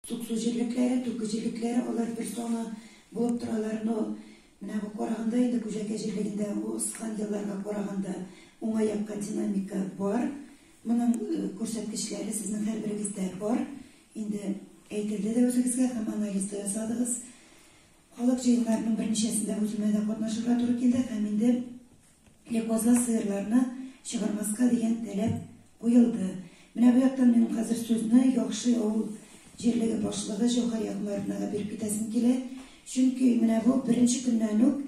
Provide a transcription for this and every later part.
Туксу җирлекләре, Туку җирлекләре, алар бер саны булып торалар, но менә бу караганда инде Күҗәкә җирлегендә узган елларга караганда уңай якка динамика бар. Моның күрсәткечләре сезнең һәрберегездә бар. Инде әйтелде дә үзегезгә һәм анализ да ясадыгыз. Халык җыеннарының берничәсендә үземә дә катнашырга туры килде һәм инде Лехозга сыерларны чыгармаска дигән таләп куелды. Менә бу яктан мин хәзер сүзне Яхшы авыл җирлеге башлыгы Җәүһәр Ягъмәровнага биреп китәсем килә, чөнки менә бу беренче көннән үк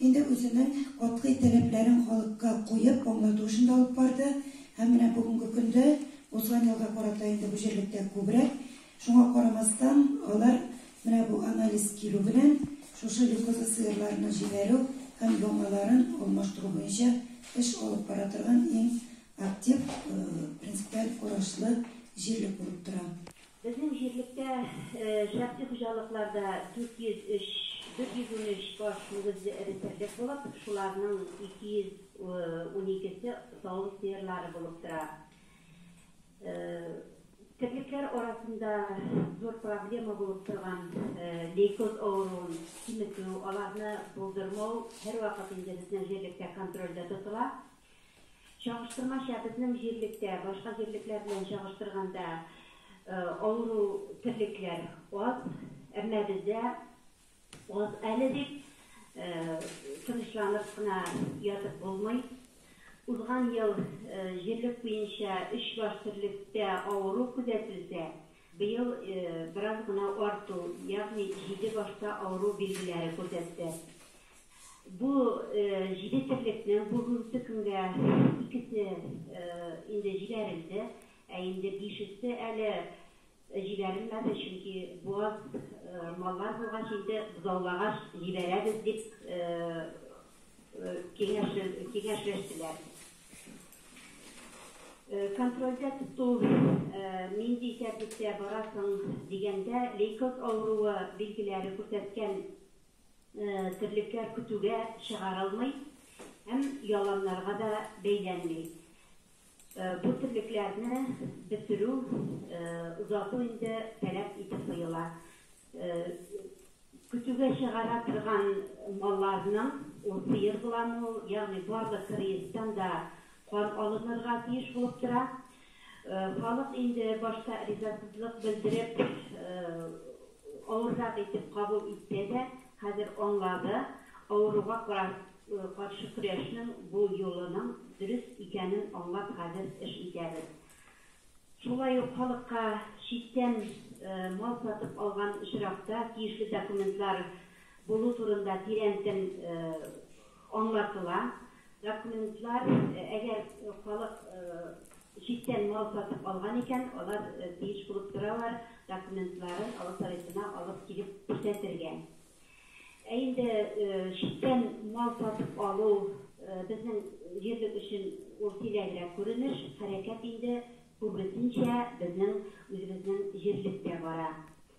инде үзенең катгый таләпләрен халыкка куеп, аңлату эшен дә алып барды һәм менә бүгенге көндә узган елга карата инде бу җирлектә күбрәк Шуңа карамастан, алар менә бу анализ килү белән шушы йокысыз сыерларны җибәрү һәм яңаларын алмаштыру буенча эш алып бара торган иң актив, принципиаль карашлы җирлек булып тора. Безнең җирлектә шәхси хуҗалыклар да 403, 413 баш мөгезле эре терлек булып, шуларның 212 се савым сыерлары булып тора. Терлекләр арасында зур проблема булып торган лейкоз авыруын киметү, аларны булдырмау һәрвакыт инде безнең җирлектә контрольдә тотыла. Чагыштырмача, безнең җирлектә башка җирлекләр белән чагыштырганда авыру терлекләр аз, әмма бездә Ут әле дип тынычланып кына ятып булмый. Узган ел җирлек буенча өч баш терлектә авыру күзәтелсә, быел бераз гына арту, ягъни җиде башта авыру билгеләре күрсәтте. Бу җиде терлекнең бүгенге көнгә икесе инде җибәрелде, ә инде бишесе әле Җибәрелмәде, чөнки буаз маллар булгач инде бозаулагач җибәрәбез дип киңәшләштеләр. Контрольдә тоту нинди тәртиптә бара соң дигәндә, лейкоз авыруы билгеләре күрсәткән терлекләр көтүгә чыгарылмый һәм яланнарга да бәйләнми. Бу терлекләрне бетерү, озату инде таләп итеп куела. Көтүгә чыгара торган малларның, ул сыер буламы ул, ягъни барлык кырыестан да кан алынырга тиеш булып тора. Халык инде башта ризасызлык белдереп, авыррак итеп кабул итсә дә, хәзер аңлады, авыруга каршы көрәшнең бу юлының дөрес икәнен аңлап хәзер эш итәбез. Шулай ук халыкка читтән мал сатып алган очракта тиешле документлар булу турында тирәнтен Аңлатыла, документлар, әгәр халык читтән мал сатып алган икән, алар тиеш булып торалар документларын авыл Советына алып килеп күрсәтергә. Ә инде читтән мал сатып алу безнең җирлек өчен ул сирәгрәк күренеш, хәрәкәт инде күбесенчә безнең үзебезнең җирлектә бара.